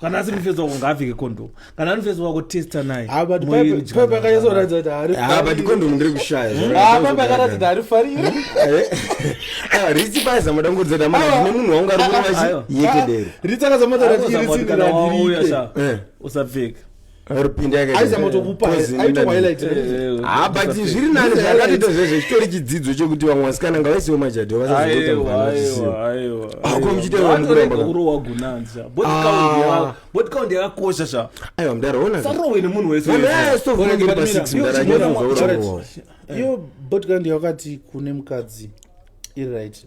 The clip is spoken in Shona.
kana asiri mufeso wako ngaapfeke kondomu kana ari mufeso wako testa naye paipakanyasoratidza kuti haripabatikondomu ndiri kushayapaipakanatidza harifarire ritsi paiza madambudzo damana zvine munhu wangu ari kuvachiyekedero ritsi akazamataratirisiauya usapfeka but zviri nani zvakatoita zvezvo zvitori chidzidzo chekuti vamwe vasikana ngavaisewo majadho vasazotaaakomuchiteurowagunanzabodcount yakakosha sha aiwa mdaraonasarowe nemunhu weseyo botcount yakati kune mukadzi iri right